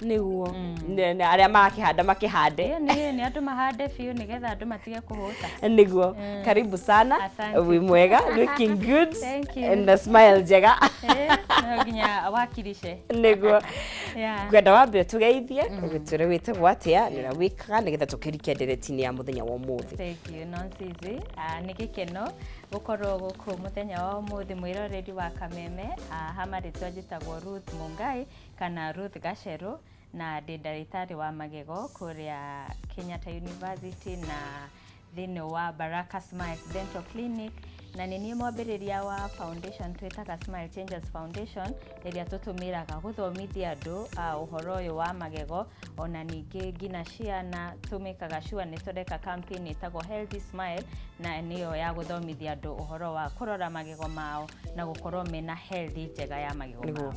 nĩguo Nĩ- nĩ arĩa marakĩhanda makĩhande Ĩĩ, nĩ nĩ andũ mahande biũ nĩgetha andũ matige kũhũta nĩguo karibu sana Asante. wĩ mwega looking good Thank you. na smile njega Ĩĩ, no nginya wakilishe nĩguo Yeah. ngwenda wambe tũgeithie ũgĩtwĩre wĩtagwo atĩa nĩ ũrĩa wĩkaga nĩgetha tũkĩrike nderetinĩ ya mũthenya wa ũmũthĩ Thank you, Nonsizi. Ah, nĩ gĩkeno gũkorwo gũkũ mũthenya wa ũmũthĩ mwĩroreri wa kameme Ah, ha marĩtwa njĩtagwo Ruth Mungai kana Ruth Gacheru na ndĩ ndagĩtarĩ wa magego kũrĩa Kenyatta University na thĩinĩ wa Baraka Smiles Dental Clinic na nĩ niĩ mwambĩrĩria wa foundation twĩtaga Smile Changes Foundation ĩrĩa tũtũmĩraga gũthomithia andũ ah, ũhoro ũyũ wa magego ona ningĩ nginya ciana tũmĩkaga sure nĩ tũreka campaign ĩtagwo healthy smile na nĩyo ya gũthomithia andũ ũhoro wa kũrora magego mao na gũkorwo mena healthy njega ya magego Nĩguo. mao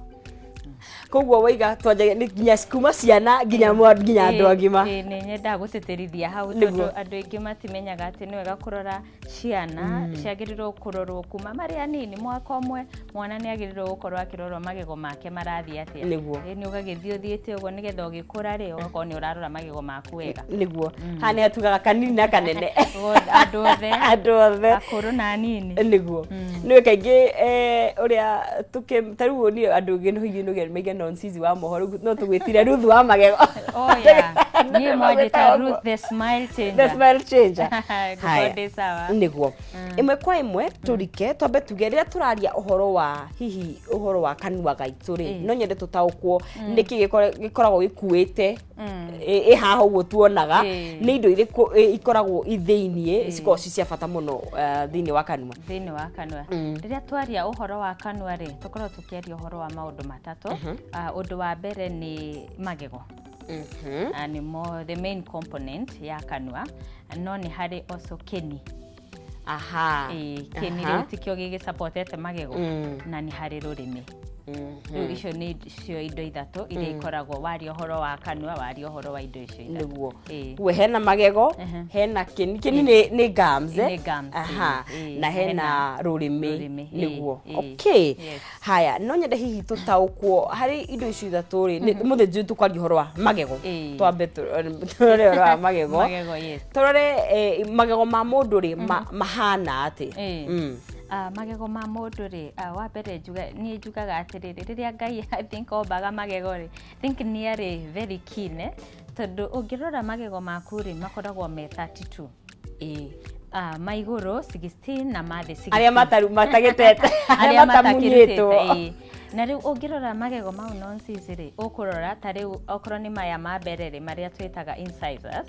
koguo waiga twanjagia nĩ nginya kuma ciana nginya mwa- nginya andũ Ĩĩ, agima ĩĩ, nĩ nyendaga gũtĩtĩrithia hau Nĩguo. tondũ andũ aingĩ matimenyaga atĩ nĩ wega kũrora ciana mm. ciagĩrĩirwo kũrorwo kuma marĩ anini mwaka ũmwe mwana nĩ agĩrĩirwo gũkorwo akĩrorwo magego make marathiĩ atĩa nĩguo nĩ ũgagĩthiĩ ũthiĩte ũguo nĩgetha ũgĩkũra rĩ ũgakorwo nĩ ũrarora magego maku wega nĩguo mm. ha nĩ atugaga kanini na kanene andũ othe andũ othe akũrũ na anini nĩguo mm. nĩ kaingĩ eh, ũrĩa tũkĩ tarĩu niĩ andũ gĩnũhiinũgĩa maigana onsizi wa mohoro no tũgwĩtire ruthu wa magego oya niä mwanjä ta Ruth the smile the changer smile changer Haya. ngåkorwo ndä sawa niguo imwe kwa imwe turike twambe tuge rä turaria uhoro wa hihi uhoro wa kanua gaitå rä Mm. no nyende tutaukwo nä kä gä koragwo gä kuä te Mm. ä haha å guo tuonaga Eh. nä indo irä ikoragwo ithä-iniä Eh. cikoragwo ci cia bata må no thä-inä wa kanua thĩinĩ wa kanua Mm. rĩrĩa twaria ũhoro wa kanua rĩ tũkorwo tũkĩaria ũhoro wa maũndũ matatũ Ah, ũndũ wa mbere nĩ magego Mhm. na nĩmo the main component ya kanua no nĩ harĩ also kĩni aha Ĩĩ, kĩni Aha. rĩu tikĩo gĩgĩsapotete magego Mm. na nĩ harĩ rũrĩmĩ Mhm. rĩu icio nĩ cio indo ithatũ iria ikoragwo waria ũhoro wa kanua waria ũhoro wa indo icio ithatũ nĩguo Ĩĩ. kuo hena magego Ehe. hena kĩni kĩni nĩ- nĩ gums, eh? Nĩ gums, Aha. ĩĩ, ĩĩ. na hena Hena rũrĩmĩ rũrĩmĩ, ĩĩ, nĩguo ĩĩ. okay Yes. haya no nyende hihi tũtaũkwo harĩ indo icio ithatũ rĩ nĩ- mũthĩ njũĩ tũkwaria ũhoro wa magego Ĩĩ. twambe tũ- tũrore ũhoro wa magego magego yes tũrore eh, magego ma mũndũ rĩ ma- mahana atĩ Ĩĩ. Mm. Ah, magego ma mũndũ rĩ ah, wa mbere njuga- niĩ njugaga atĩrĩrĩ rĩrĩa ngai I think ombaga magego rĩ think niarĩ very keen eh, tondũ ũngĩrora magego maku rĩ makoragwo me 32 Ĩĩ. Ah, ma igũrũ 16 na ma thĩ 16. arĩa mataru- matagĩtete arĩa matamunyĩtwo ĩĩ. na rĩu ũngĩrora magego mau nonsense rĩ ũkũrora ta rĩu okorwo nĩ maya ma mbere rĩ marĩa twĩtaga incisors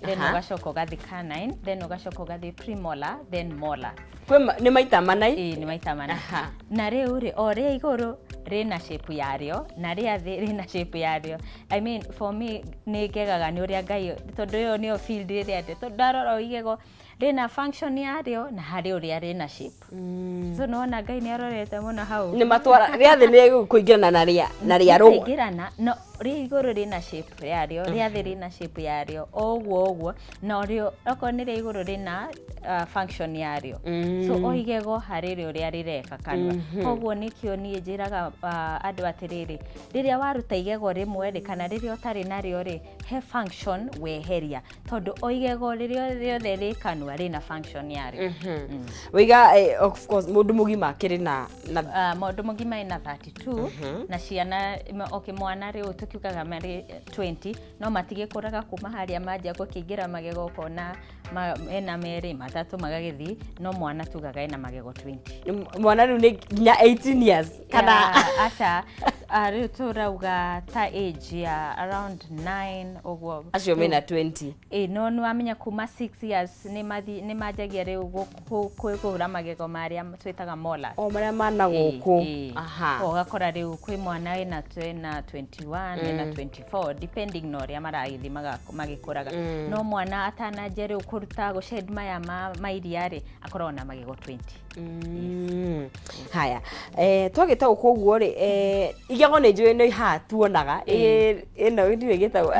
then Aha. ũgacoka ũgathiĩ canine then ũgacoka ũgathiĩ premolar then molar Kwĩ ma- nĩ maita mana i- ĩĩ nĩ maita mana Aha. na rĩu rĩ o rĩa igũrũ rĩna shape yarĩo na rĩa thĩ rĩna shape yarĩo I mean for me nĩ ngegaga nĩ ũrĩa Ngai tondũ ĩyo nĩyo field ĩrĩa ndĩ tondũ ndarora o igego rĩna function yarĩo na harĩ ũrĩa rĩna shape mm. so nona Ngai nĩ arorete mũno hau nĩ matwara rĩa thĩ nĩ kũingĩrana na rĩa na rĩa rũa kũingĩrana no rĩa igũrũ rĩna shape yarĩo rĩa thĩ rĩna shape yarĩo ũguo ũguo na ũrĩa okorwo nĩ rĩa igũrũ rĩna uh, function yarĩo mm. so o igego harĩ rĩo rĩa rĩreka kanua mm-hmm. koguo nĩkĩo niĩ njĩraga uh, andũ atĩrĩrĩ Rĩrĩa waruta igego rĩmwe rĩ, kana rĩrĩa ũtarĩ narĩo rĩ, he function weheria. Tondũ o igego rĩrĩa rĩothe rĩ kanua rĩna function yarĩo. Mm. Wĩiga, eh, of course, mũndũ mũgima akĩrĩ na, na Ah, mũndũ mũgima ena 32 na ciana ma- okay, mwana rĩu tũkiugaga marĩ 20 no matigĩkũraga kuma harĩa manja gũkĩingĩra magego ũkona ma, ena merĩ matatũ magagĩthiĩ no mwana tugaga ena magego 20 M- mwana rĩu nĩ nginya 18 years kana Ya, aca ah, rĩu tũrauga ta age ya around 9 ũguo acio Rĩu- mena 20 ĩ no nĩ wamenya kuma 6 years nĩ mathi- nĩ manjagia rĩu gũ- kũ- kũ- kũhũra magego marĩa twĩtaga mola o marĩa mana gũkũ aha ũgakora rĩu kwĩ mwana ena ena 21 ena 24 four depending na ũrĩa maragĩthiĩ maga- magĩkũraga Mm. no mwana atananjia rĩu kũruta gũcend maya ma ma iria rĩ akoragwo na magego 20 Mm. haya eh, twagĩte gũkũ ũguo rĩ eh, igego nĩ njũĩ nĩ ihaa tuonaga Ĩ- ĩno ndiũĩ gĩtagwo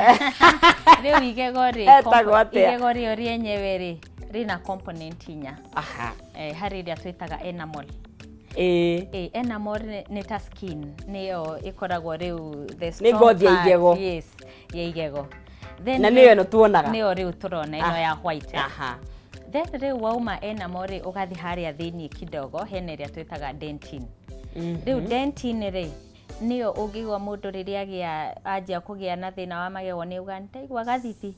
rĩu igego rĩ Etagwo compo- atĩa? igego rĩo rĩenyewe rĩ rĩna component inya Aha. eh, harĩ ĩrĩa twĩtaga enamel Ĩĩ. Ĩĩ, enamel nĩ- nĩ ta skin nĩyo ĩkoragwo rĩu the Nĩ strong ngothi ya part, igego. yes, ya igego Then na rĩu- nĩyo ĩno tuonaga nĩyo rĩu tũrona ĩno Ah. ya white aha then rĩu wauma enamel rĩ ũgathiĩ harĩa thĩinĩ kidogo hena ĩrĩa twĩtaga dentin rĩu dentin rĩ nĩyo ũngĩigua mũndũ rĩrĩa agĩa anjia kũgĩa na thĩna wa magego nĩ uga nĩndaigua gathithi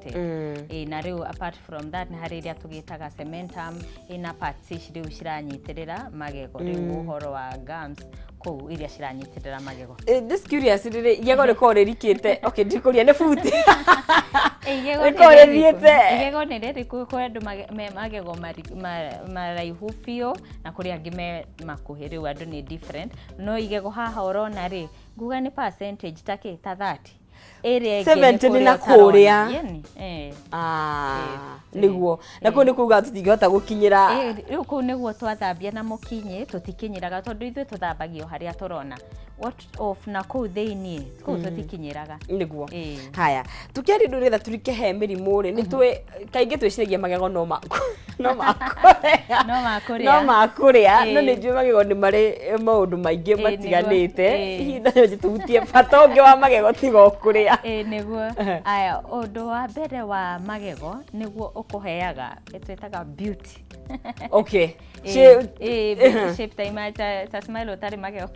affected Ĩĩ, na rĩu apart from that nĩ harĩ iria tũgĩtaga cementum ĩĩ, na parts ici rĩu ciranyitĩrĩra magego rĩu ũhoro wa gums kũu iria ciranyitĩrĩra magego Eh, just curious rĩrĩ igego rĩkorwo rĩrikĩte okay ndikũria nĩ buti igego Rĩkorwo nĩ rĩrĩkũ? rĩthiĩte. igego nĩ rĩrĩkũ kũrĩ andũ mage- me magego mari- ma- maraihu biũ na kũrĩ angĩ me makuhĩ rĩu andũ nĩ different no igego haha ũrona rĩ nguga nĩ percentage ta kĩ ta 30 ĩrĩa ĩngĩ nĩ 70 nĩ na kũrĩa kũrĩa. ũtarona. Yeni, eh. Ah, Eh, nĩguo na kũu nĩ kuga tũtingĩhota gũkinyĩra Eh, rĩu kũu nĩguo twathambia na mũkinyĩ tũtikinyĩraga tondũ ithuĩ tũthambagio harĩa tũrona What of na kũu thĩinĩ kũu tũtikinyĩraga nĩguo Eh. haya tũkĩaria ũndũ nĩgetha tũrike he mĩrimũ rĩ nĩ twĩ kaingĩ twĩciragia magego no maku no makũrĩa no makũrĩa no makũrĩa no nĩ njũĩ magego nĩ marĩ maũndũ maingĩ matiganĩte ihinda rĩo njĩtũhutie bata ũngĩ wa magego tiga ũkũrĩa ĩĩ nĩguo aya ũndũ wa mbere wa magego nĩguo ũkũheaga twĩtaga beauty okay shape ta ima ta smile ũtarĩ magego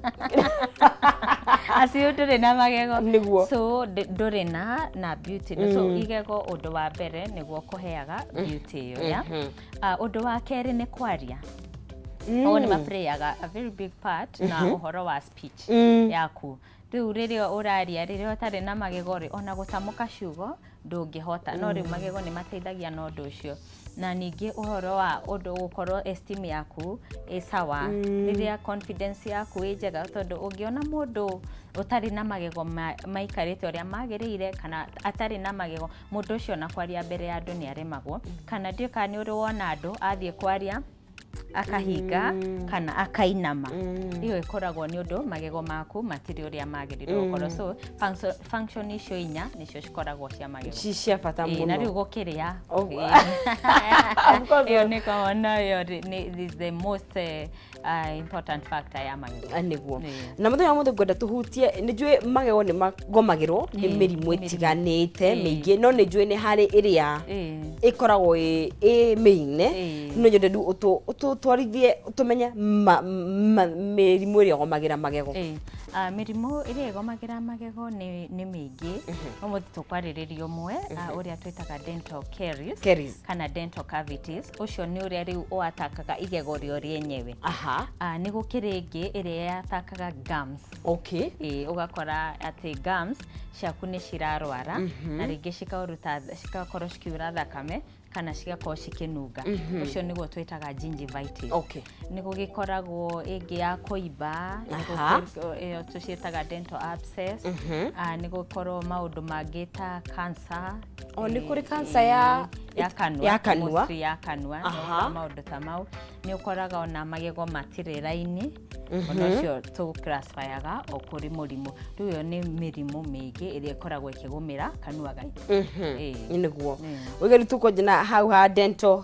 acio ndũrĩ na magego nĩguo so ndũrĩ na na beauty so igego ũndũ wa mbere nĩguo kũheaga mm. beauty ĩyo ya mm-hmm. ah, ũndũ wa kerĩ nĩ kwaria mm. o nĩ maplayaga a very big part na mm-hmm. ũhoro wa speech mm. yaku rĩu rĩrĩa ũraria rĩrĩa ũtarĩ na magego rĩ ona gũtamũka ciugo ndũngĩhota no rĩu mm. magego nĩ mateithagia na ũndũ ũcio na ningĩ ũhoro wa ũndũ gũkorwo esteem yaku ĩ sawa mm. rĩrĩa confidence yaku ĩ njega tondũ ũngĩona mũndũ ũtarĩ na magego maikarĩte ũrĩa magĩrĩire kana atarĩ na magego mũndũ ũcio ona kwaria mbere ya andũ nĩ aremagwo kana ndiũ kana nĩ ũrĩ wona andũ athiĩ kwaria akahinga Mm. kana akainama Mm. iyo ĩkoragwo nĩ ũndũ magego maku matirĩ ũrĩa magĩrĩirwo Mm. gũkorwo so function- function icio inya nĩcio cikoragwo cia magego ci cia bata Ĩĩ, na rĩu mũno gũkĩrĩa Oh. Ĩĩ. Of course. ĩyo nĩ kawona ĩyo rĩ- nĩ- is the most eh, Ah, important factor ya magego Ah, nĩguo Nĩ. na mũthenya wa mũthĩ ngwenda tũhutie nĩ njũĩ magego nĩ magomagĩrwo nĩ Ĩ, mĩrimũ mĩrimũ. ĩtiganĩte Ĩ. mĩingĩ no nĩ njũĩ nĩ harĩ ĩrĩa Ĩ. ĩkoragwo ĩ ĩ mĩine Ĩ. no nyende rĩu ũtũ- ũtũtwarithie tũmenye ma- ma- mĩrimũ ĩrĩa ĩgomagĩra magego Ĩ, ah, mĩrimũ ĩrĩa ĩgomagĩra magego nĩ nĩ mĩingĩ ũmũthĩ tũkwarĩrĩria ũmwe ah, ũrĩa twĩtaga dental caries Caries. kana dental cavities ũcio nĩ ũrĩa rĩu ũatakaga igego rĩo rĩenyewe aha Ah, nĩ gũkĩrĩ ĩngĩ ĩrĩa yatakaga gums okay Ĩĩ, ũgakora atĩ gums ciaku nĩ cirarwara na rĩngĩ cikaruta cigakorwo cikiura thakame kana cigakorwo cikĩnunga ũcio nĩguo twĩtaga gingivitis Okay. Nĩ gũgĩkoragwo ĩngĩ ya kũimba, nĩ Aha. gũkĩ- ĩyo tũciĩtaga dental abscess. Mhm. Ah, nĩ gũkorwo maũndũ mangĩ ta cancer. O, nĩ kũrĩ eh, cancer ya- eh, ya kanua. ya kanua. mostly ya kanua. nĩ Aha. gũkoragwo maũndũ ta mau. Nĩ ũkoraga ona magego matirĩ raini. Ona ũcio tũgũclassifyaga o kũrĩ mũrimũ. Rĩu ĩyo nĩ mĩrimũ mĩingĩ ĩrĩa ĩkoragwo ĩkĩgũmĩra kanua gaitũ. Mhm. Ĩĩ. nĩguo Ĩĩ. ũgeru tũkũnjina hau ha dental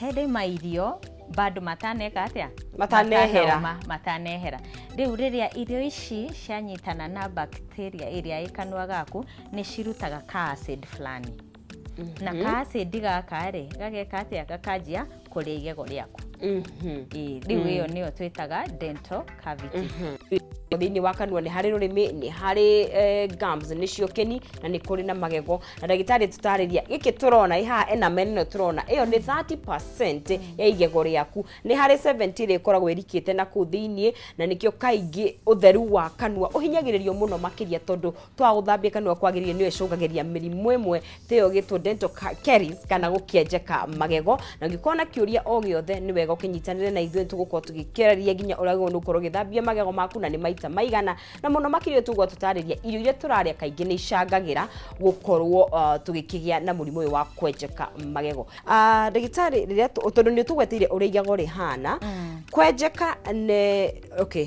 Hĩndĩ ma irio bado mataneka atĩa matanehera Matanauma, matanehera rĩu rĩrĩa irio ici cianyitana na bacteria ĩrĩa ĩ kanua gaku nĩ cirutaga ka acid fulani na ka acid gaka rĩ gageka atĩa gakanjia kũrĩa igego rĩaku Mhm. Ĩĩ, rĩu ĩyo nĩyo twĩtaga dental cavity thĩinĩ wa kanua nĩ harĩ rũrĩmĩ nĩ harĩ eh, gums nĩcio keni na nĩ kũrĩ na magego na ndagĩtarĩ tũtarĩria gĩkĩ tũrona ĩhaha enamel ĩno tũrona ĩyo nĩ 30 ya igego rĩaku nĩ harĩ 70 ĩrĩa ĩkoragwo ĩrikĩte na kũu thĩinĩ na nĩkĩo kaingĩ ũtheru wa kanua ũhinyagĩrĩrio mũno makĩria tondũ twa gũthambia kanua kwagĩrĩire nĩyo ĩcũngagĩria mĩrimũ ĩmwe teyo gĩtwo dental ca- caries kana gũkĩenjeka magego na ũngĩkorwo na kĩũria o gĩothe nĩ wega ũkĩnyitanĩre na ithuĩ tũgũkorwo tũgĩkĩarĩria nginya ũrĩa wagĩrĩirwo nĩ gũkorwo ũgĩthambia magego maku na nĩ maita maigana na mũno makĩria tũgũkorwo tũtarĩria irio iria tũrarĩa kaingĩ nĩ icangagĩra gũkorwo uh, tũgĩkĩgĩa na mũrimũ ũyũ wa kwenjeka magego uh, ndagĩtarĩ rĩrĩa tũ- tondũ nĩ ũtũgweteire ũrĩa igego rĩhana kwenjeka nĩ okay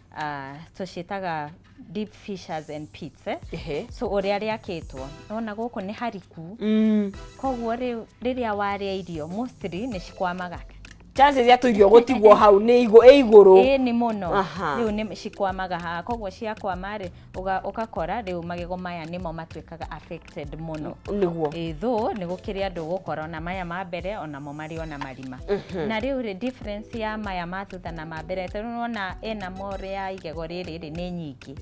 ah, tũciĩtaga deep fishers and pits eh? Ehe. so ũrĩa rĩakĩtwo nona gũkũ nĩ hariku Mm. koguo rĩu rĩrĩa warĩa irio mostly nĩ cikwamaga chances ya tũirio gũtigwo hau nĩ igũ- ĩ igũrũ ĩni mũno Aha. rĩu nĩ cikwamaga haha koguo ciakwama rĩ ũgakora rĩu magego maya nĩmo matuĩkaga affected mũno nĩguo ĩthũ nĩ gũkĩrĩ andũ gũkora ona maya ma mbere onamo marĩ ona marima mhm. na rĩu rĩ difference ya maya ma thutha na ma mbere tondũ nĩwona ena more ya igego rĩrĩ rĩ nĩ nyingĩ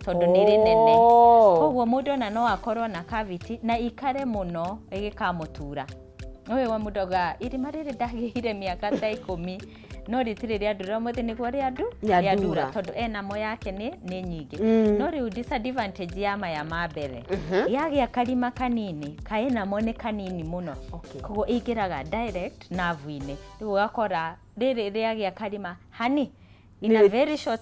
tondũ nĩ rĩnene oh. koguo mũndũ ona no akorwo na cavity na ikare mũno ĩgĩkamũtura ũyũ wa mũndũ auga irima rĩrĩ ndagĩire mĩaka ta ikũmi no rĩti rĩrĩ andũ rĩa mũthĩ nĩguo rĩa andu Rĩa rĩa ndura. ndura tondũ enamo yake nĩ nĩ nyingĩ Mm. no rĩu disadvantage ya maya ma mbere yagĩa karima kanini kaenamo nĩ kanini mũno Okay. koguo ĩingĩraga direct navu-inĩ rĩu ũgakora rĩrĩ rĩagĩa karima hani in a very short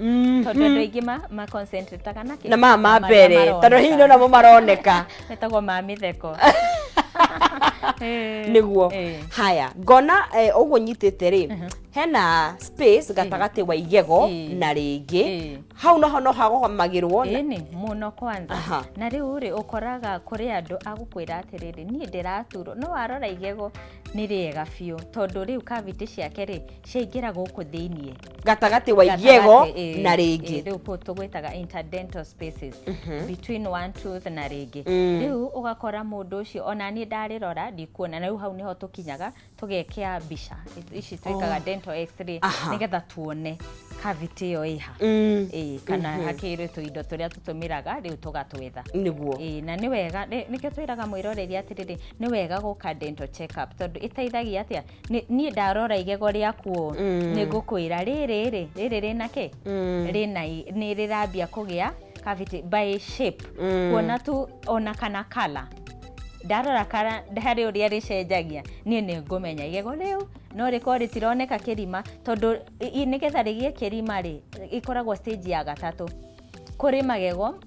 Mhm. tondå andå aingä ma- ma concentrataga na kĩ- na maya ma marĩa mbere tondå maroneka. hihi nä namo maroneka metagwo ma mä theko niguo Eh. haya ngona å guo nyitä te rä hena space gatagatä wa igego Eh. na rä ngä Eh. hau noho no hagomagä rwo ĩnĩ mũno kwanza Aha. na rĩu rĩ ũkoraga kũrĩ andũ agũkwĩra atĩrĩrĩ niĩ ndĩraturwo no warora igego nĩ rĩega biũ tondũ rĩu kavitĩ ciake rĩ ciaingĩra gũkũ thĩiniĩ gatagatĩ wa igiego Gatagatĩ, na ĩ, ĩ, rĩngĩ rĩu po- tũgwĩtaga interdental spaces between one tooth na rĩngĩ Mm. rĩu ũgakora mũndũ ũcio ona niĩ ndarĩrora ndikuona na rĩu hau nĩho tũkinyaga tũgekĩa mbica Ici- ici twĩkaga dental x-ray Aha. nĩgetha tuone cavity ĩyo ĩha Mm, ĩĩ kana hakĩrĩ tũindo tũrĩa tũtũmĩraga rĩu tũgatwetha nĩguo Ĩĩ, na nĩ wega nĩ- nĩkĩo twĩraga mwĩroreri atĩrĩrĩ nĩ wega gũka dental check up tondũ ĩteithagia atĩa Nĩ- niĩ ndarora igego rĩaku ũũ Mm. nĩ ngũkwĩra rĩrĩ rĩ rĩrĩ rĩna kĩ Mm. rĩna i- nĩ rĩrambia kũgĩa cavity by shape Mm. kuona tu ona kana kala ndarora kara harĩ ũrĩa rĩcenjagia niĩ nĩ ngũmenya igego rĩu no rĩkorwo rĩtironeka kĩrima tondũ i- i- nĩgetha rĩgĩe kĩrima rĩ ĩkoragwo stage ya gatatũ kũrĩ magego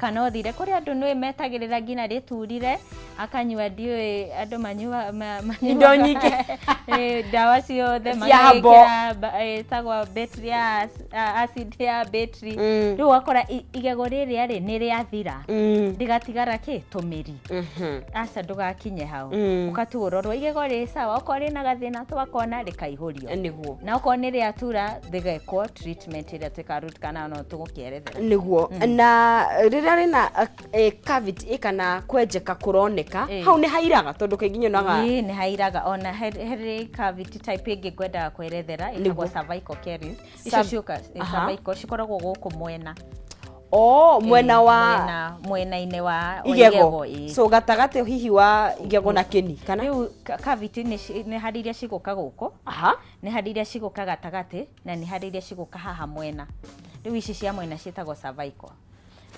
Kana ũthire kũrĩ andũ nũĩ metagĩrĩra nginya rĩturire, akanyua ndiũĩ andũ manyua ma- manyuaga- Indo nyingĩ. Eh, ndawa ciothe Cia hambo. magekĩra ba- eh, ĩtagwo battery ya ac- a- acid ya battery Mm. rĩu wakora i- igego rĩrĩa rĩ nĩ rĩathira Mm. rĩgatigara kĩ tũmĩri Mhm. aca ndũgakinye hau Mm. ũkatiga ũrorwo igego rĩ sawa okorwo rĩna gathĩna twakona rĩkaihũrio nĩguo na okorwo nĩ rĩatura rĩgekwo treatment ĩrĩa twĩka root canal no tũgũkĩ erethera niguo na rĩrĩa rĩna eh, cavity kana kwenjeka kũroneka Eh. hau nĩ hairaga tondũ kaingĩ nyonaga Ĩĩ, nĩ hairaga ona he- harĩ cavity type ĩngĩ ngwendaga kwerethera ĩtagwo Nĩguo. cervical caries icio Cerv- ciũka eh, Aha. cervical cikoragwo gũkũ mwena o mwena Eh, wa mwena- mwena-inĩ wa wa igego ĩĩ. so gatagatĩ hihi wa igego na kĩni kana rĩu ka- cavity nĩ ci- nĩ harĩ iria cigũka gũkũ aha nĩ harĩ iria cigũka gatagatĩ na nĩ harĩ iria cigũka haha mwena rĩu ici cia mwena ciĩtagwo cervical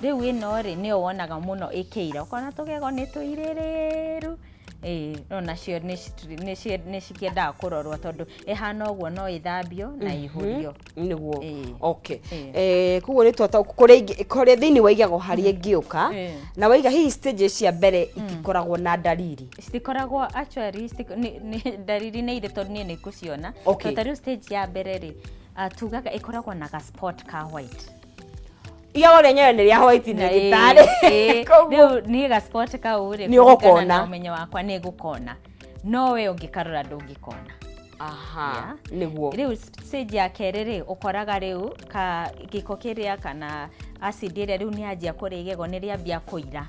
rĩu ĩno rĩ nĩyo wonaga mũno ĩkĩira ũkona tũgego nĩ tũirĩrĩru ĩĩ no nacio nĩ citri- nĩ cie- nĩ cikĩendaga kũrorwo tondũ ĩhana ũguo no ĩthambio na ihũrio niguo Ĩĩ. okay Ĩĩ. eh kuguo ni twata kuria ingi kuria thiini wa igego haria ingioka Ĩĩ. na waiga hihi stages cia mbere itikoragwo na ndariri citikoragwo actually citi- nĩ- nĩ- ndariri nĩ irĩ tondũ niĩ nĩ ngũciona Okay. Tondũ ta rĩu stage ya mbere rĩ ah, tugaga ĩkoragwo na ga spot ka white iyago rĩenyewe nĩ rĩa white Na, eh, ndagĩtarĩ eh, Koguo- rĩu niĩ ga spot kau rĩ Nĩ kũringana ũgũkona. na ũmenyo wakwa nĩ ngũkona no we ũngĩkarora ndũngĩkona aha nĩguo rĩu stage ya kerĩ rĩ ũkoraga rĩu ka gĩko kĩrĩa kana acid ĩrĩa rĩu nĩ yanjia kũrĩa igego nĩ rĩambia kũira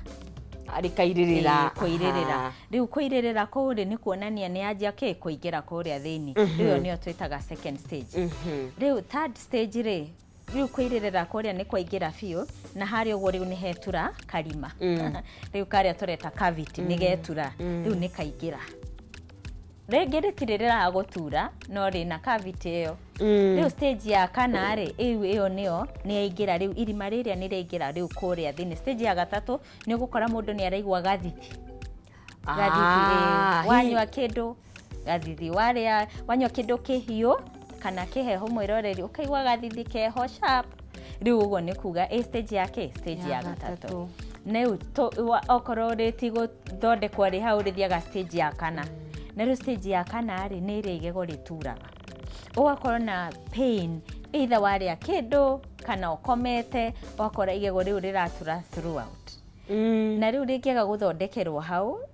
rĩkairĩrĩra Ĩĩ, kũirĩrĩra Aha. rĩu kũirĩrĩra kũu rĩ nĩ kuonania nĩ yanjia kĩ kũingĩra kũrĩa thĩinĩ rĩu ĩyo nĩyo twĩtaga second stage Mhm. rĩu third stage rĩ rĩu kũirĩrĩra kũrĩa nĩ kwaingĩra biũ na harĩa ũguo rĩu nĩ hetura karima mm. rĩu karĩa tũreta cavity mm. nĩ getura mm. rĩu nĩ kaingĩra rĩngĩ rĩtirĩrĩraga gũtura no rĩna cavity ĩyo mm. rĩu stage ya kana rĩ ĩu ĩyo nĩyo nĩ yaingĩra rĩu irima rĩrĩa nĩ rĩaingĩra rĩu kũrĩa thĩinĩ stage ya gatatũ nĩ ũgũkora mũndũ nĩ araigua gathiti Ah, wanyua kindu gathithi warĩa wanyua kĩndũ kĩhiũ kana kĩheho mwĩroreri ũkaigua gathithi keho sharp rĩu ũguo nĩ kuga ĩ stage ya kĩ stage ya gatatũ rĩu tũ- wa- okorwo rĩ ti gũthondekwo rĩ hau rĩthiaga stage ya kana na rĩu stage ya kana rĩ nĩ ĩrĩa igego rĩturaga ũgakorwo na pain either warĩa kĩndũ kana ũkomete ũgakora igego rĩu rĩratura throughout na rĩu rĩngĩaga gũthondekerwo hau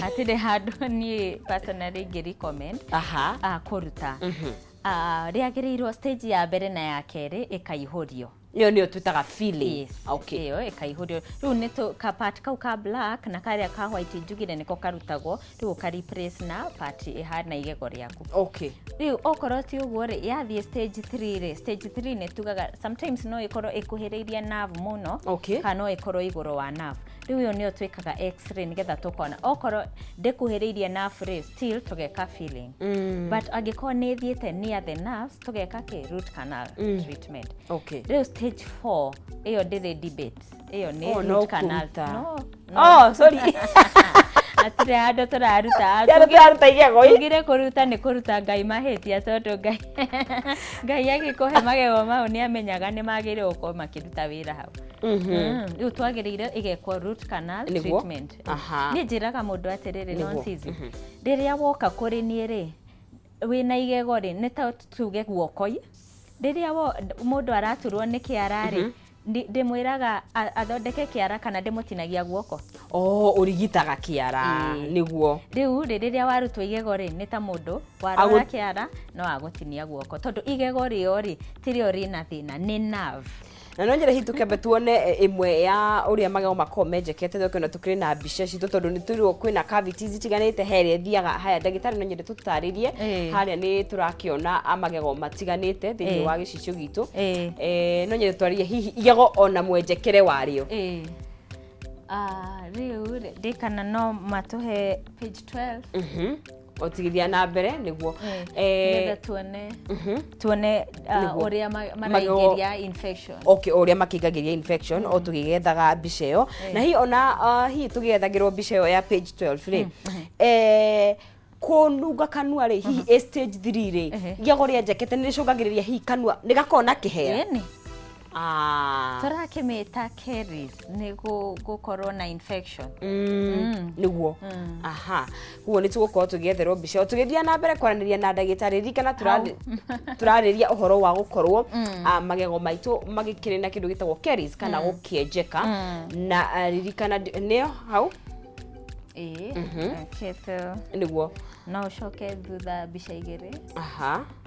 hatirĩ handũ niĩ personally ingĩ recommend aha ah, kũruta Mhm. Ah, rĩagĩrĩirwo stage ya mbere na ya kerĩ ĩkaihũrio ĩyo nĩyo twĩtaga feeling Yes. okay ĩyo ĩkaihũrio rĩu nĩ tũ- ka part kau ka black na karĩa ka white njugire nĩko karutagwo rĩu ũka replace na part ĩhana igego rĩaku okay rĩu okorwo ti ũguo rĩ yathiĩ stage 3 rĩ stage 3 nĩ tugaga sometimes no ĩkorwo ĩkuhĩrĩirie nerve mũno Okay. kana no ĩkorwo igũrũ wa nerve rĩu ĩyo nĩyo twĩkaga x-ray nĩgetha tũkona okorwo ndĩkuhĩrĩirie nerve rĩ still tũgeka filling Mm. but angĩkorwo nĩ ĩthiĩte near the nerves tũgeka kĩ root canal Mm. treatment Okay. rĩu stage 4 ĩyo ndĩrĩ debate ĩyo nĩ Oh, no root canal kũruta. no Oh, sorry. atire handũ tũraruta Yara tũraruta igego ĩ. tugire kũruta nĩ kũruta ngai mahĩtia tondũ ngai ngai agĩkũhe magego mau nĩ amenyaga nĩ magĩrĩirwo gũkorwo makĩruta wĩra hau Mm, rĩu twagĩrĩire ĩgekwo root canal Nĩguo. treatment Aha. niĩ njĩraga mũndũ atĩrĩrĩ Nĩguo. nonsizi rĩrĩa woka kũrĩ niĩ rĩ wĩna igego rĩ nĩ ta tuge guokoi rĩrĩa wo- mũndũ araturwo nĩ kĩara rĩ ndi- ndĩmwĩraga a- athondeke kĩara kana ndĩmũtinagia guoko o ũrigitaga kĩara Ĩĩ. nĩguo rĩu rĩ rĩrĩa warutwo igego rĩ nĩ ta mũndũ warora Agũ- kĩara no agũtinia guoko tondũ igego rĩo rĩ tirĩo rĩna thĩna nĩ nerve na no nyere hihi tũkĩambe tuone eh, ĩmwe ya ũrĩa magego makoragwo menjekete thoko ĩno tũkĩrĩ na mbica citũ tondũ nĩ tũirwo kwĩna cavities itiganĩte he ĩrĩa ĩthiaga haya ndagĩtarĩ no nyende tũtarĩrie Ĩĩ. harĩa nĩ tũrakĩona ah, magego matiganĩte thĩinĩ Ĩĩ. wa gĩcicio gitũ Ĩĩ. Eh, no nyende twarĩrie hihi igego ona mwenjekere warĩo Ĩĩ. Ah, rĩu rĩ, ndĩkana no matũhe page 12 Mhm. gũtigithia na mbere nĩguo nĩgetha tuone mhm. tuone uh, ũrĩa maraingĩria infection okay ũrĩa makĩingagĩria infection mm. o tũgĩgethaga mbica ĩyo eh. na hihi ona uh, hihi tũgĩethagĩrwo mbica ĩyo ya page 12 rĩ mm, mhm. eh, kununga kanua rä hihi mhm. a stage 3 rä gĩago rĩa njekete nä rä cångagä rä ria hihi kanua nä gakona kä hera Ah. tũrakĩmĩta caries nĩ gũ- gũkorwo na infection Mm, nĩguo aha kuguo nĩ tũgũkorwo tũgĩetherwo mbica ĩyo. tũgĩthiaga na mbere kwaranĩria na ndagĩtarĩ ririkana tũrarĩ- tũrarĩria ũhoro wa gũkorwo ah, magego maitũ magĩkĩrĩ na kĩndũ gĩtagwo caries kana gũkĩenjeka na ah, ririkana ndi- nĩyo hau ĩĩ okay, so nĩguo no ũcoke thutha mbica igĩrĩ aha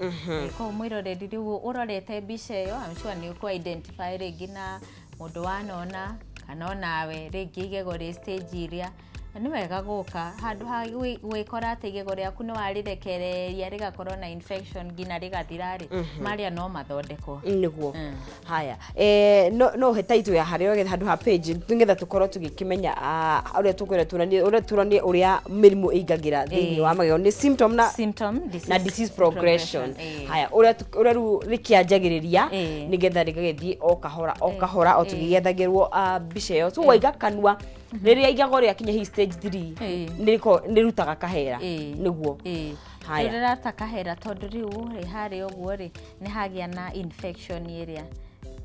Mhm. Kwa mwĩroreri rĩu ũrorete mbica ĩyo, I'm sure nĩ ũkũ identify rĩngĩ na mũndũ wanona kana onawe rĩngĩ igego rĩ stage iria na nĩ wega gũka handũ ha gwĩ- gwĩkora atĩ igego rĩaku nĩ warĩrekereria rĩgakorwo na infection nginya rĩgathira rĩ marĩa no mathondekwo nĩguo Mm. haya eh, no no he title ya harä getha handå ha page nĩgetha tũkorwo tũgĩkĩmenya ah, ũrĩa tũkwenda tuonanie ũrĩa tuonanie ũrĩa mĩrimũ ĩingagĩra thĩinĩ Eh. wa magego nĩ symptom na symptom disease na disease progression eh. haya ũrĩa tu- ũrĩa rĩu rĩkĩanjagĩrĩria Eh. nĩgetha rĩgagĩthiĩ o kahora o kahora o tũgĩgethagĩrwo ah, mbica ĩyo so waiga kanua rĩrĩa igago rĩakinya hihi stage 3 Eh. nĩrĩko- nĩrutaga kahera Eh. nĩguo Eh. Haya. rĩrata kahera tondũ rĩu rĩ harĩa ũguo rĩ nĩ hagĩa na infection ĩrĩa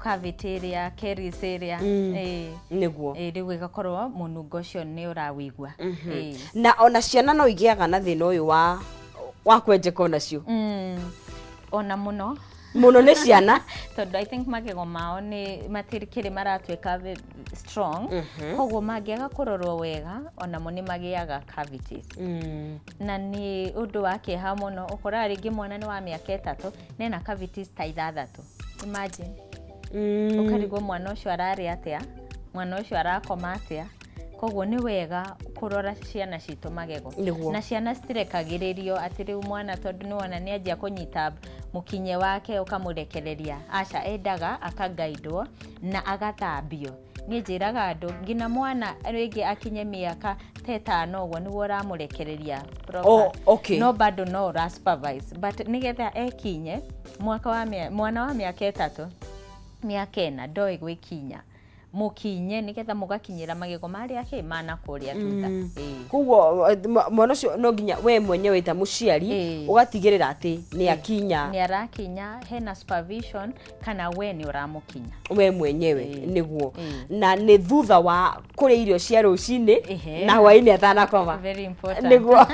cavity ĩrĩa caries ĩrĩa Mm. eh, nĩguo eh, rĩu ĩgakorwo mũnungo ũcio nĩ ũrawĩigua Eh. na ona ciana no igĩaga na thĩna ũyũ wa wa kwenjeka onacio Mm, ona mũno mũno nĩ ciana tondå i think magego mao nä matirikiri maratuika ve- strong koguo mangĩaga kå rorwo wega onamo nä magĩaga cavities na nĩ ũndũ wa kĩeha mũno ũkoraga rĩngĩ mwana nĩ wa mĩaka ĩtatũ na ena cavities ta ithathatũ imagine Mm. ũkarigwo mwana ũcio ararĩa atĩa mwana ũcio arakoma atĩa koguo nĩ wega kũrora ciana citũ magego Nĩguo. na ciana citirekagĩrĩrio atĩ rĩu mwana tondũ nĩ wona nĩ anjia kũnyita mũkinye wake ũkamũrekereria aca endaga akagaidwo na agathambio niĩ njĩraga andũ nginya mwana rĩngĩ akinye mĩaka ta ĩtano ũguo nĩguo ũramũrekereria proper. Oh, okay. no bado no ũra supervise but nĩgetha ekinye mwaka wa mĩa- mwana wa mĩaka ĩtatũ mĩaka ĩna ndoĩ gwĩkinya mũkinye nĩgetha mũgakinyĩra magego marĩa kĩ mana kũrĩa tuta Ĩĩ. koguo eh, mwa- mwana ũcio no nginya we mwenyewe ta mũciari Ĩĩ. ũgatigĩrĩra atĩ nĩ akinya nĩ arakinya hena supervision kana we nĩ ũramũkinya we mwenyewe Ĩĩ. nĩguo Ĩĩ. na nĩ thutha wa kũrĩa irio cia rũcinĩ Ehe. na hwainĩ atanakoma Very important. nĩguo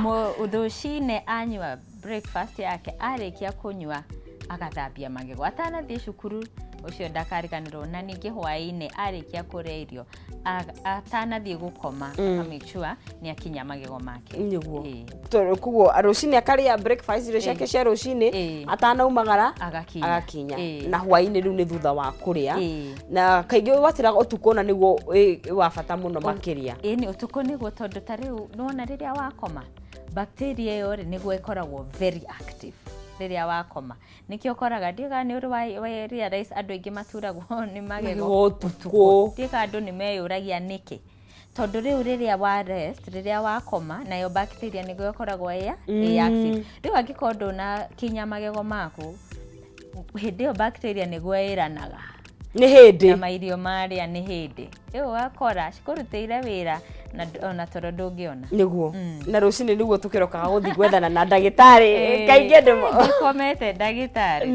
mũthũcinĩ anyua breakfast yake arĩkia kũnyua agathambia magego atanathiĩ cukuru ũcio ndakariganĩrwo na ningĩ hwaĩ-inĩ arĩkia kũrĩa irio a- atanathiĩ gũkoma aka make sure nĩ akinya magego make nĩguo Ĩĩ. To- koguo rũcinĩ akarĩa breakfast irio ciake cia rũcinĩ Ĩĩ. atanaumagara agakinya agakinya Ĩĩ. na hwainĩ rĩu nĩ thutha wa kũrĩa Ĩĩ. na kaingĩ watĩraga ũtukũ na nĩguo wĩ wĩ wa bata mũno makĩria ĩĩ nĩ ũtukũ nĩguo tondũ ta rĩu nĩwona rĩrĩa wakoma bacteria ĩyo rĩ nĩguo ĩkoragwo very active rĩrĩa wakoma nĩkĩo ũkoraga ndiũĩ kana nĩ ũrĩ wa- wa realize andũ aingĩ maturagwo nĩ magego Magego ũtukũ. ndiũĩ kana andũ nĩ meyũragia nĩkĩ tondũ rĩu rĩrĩa wa rest rĩrĩa wakoma nayo bacteria nĩguo ĩkoragwo ĩya ĩ active rĩu angĩkorwo ndũna kinya magego maku hĩndĩ ĩyo bacteria nĩguo ĩranaga nĩ hĩndĩ na mairio marĩa nĩ hĩndĩ rĩu wakora cikũrutĩire wĩra na ona toro ndũngĩona nĩguo mm. na rũcinĩ nĩguo tũkĩrokaga gũthiĩ gwethana na ndagĩtarĩ eh, kaingĩ ndĩkomete ndagĩtarĩ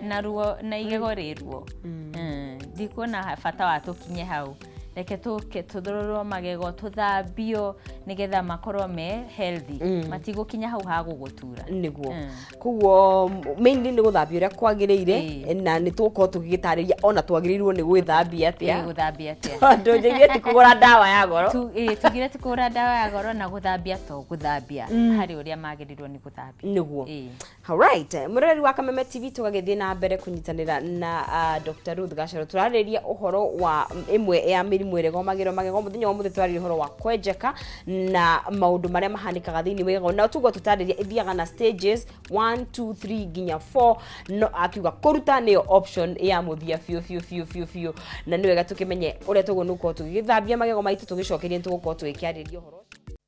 na ruo na igego rĩ ruo mm. eh, ndikuona bata wa tũkinye hau reke tũke tũthororwo magego tũthambio nĩgetha makorwo me healthy Mm. matigũkinya hau ha gũgũtura niguo Mm. koguo mainly nĩ gũthambia ũrĩa kwagĩrĩire Ĩĩ. na nĩ tũgũkorwo tũgĩgĩtarĩria ona twagĩrĩirwo nĩ gwĩthambia Ĩĩ, atĩa gũthambia atĩa tondũ njĩgie ti kũgũra ndawa ya goro Tu- ĩĩ, tugire ti kũgũra ndawa ya goro na gũthambia to gũthambia Mm. harĩ ũrĩa magĩrĩirwo nĩ gũthambia niguo Ĩĩ. Alright, mwĩroreri wa Kameme TV tũgagĩthiĩ na mbere kũnyitanĩra na uh, Dr. Ruth Gacaro tũrarĩrĩria ũhoro wa ĩmwe ya mĩrimũ ĩrĩa ĩgomagĩrwo magego mũthenya wa mũthĩ tũrarĩrĩria ũhoro wa kwenjeka na maũndũ marĩa mahanĩkaga thĩinĩ wa igego na tuguo tũtarĩria ĩthiaga na stages 1 2 3 nginya 4 no akiuga kũruta nĩyo option ya mũthia biũ biũ biũ biũ biũ na nĩ wega tũkĩmenye ũrĩa tũguo nĩgũkorwo tũgĩgĩthambia magego maitũ tũgĩcokeria nĩ tũgũkorwo tũgĩkĩarĩria ũhoro ũcio.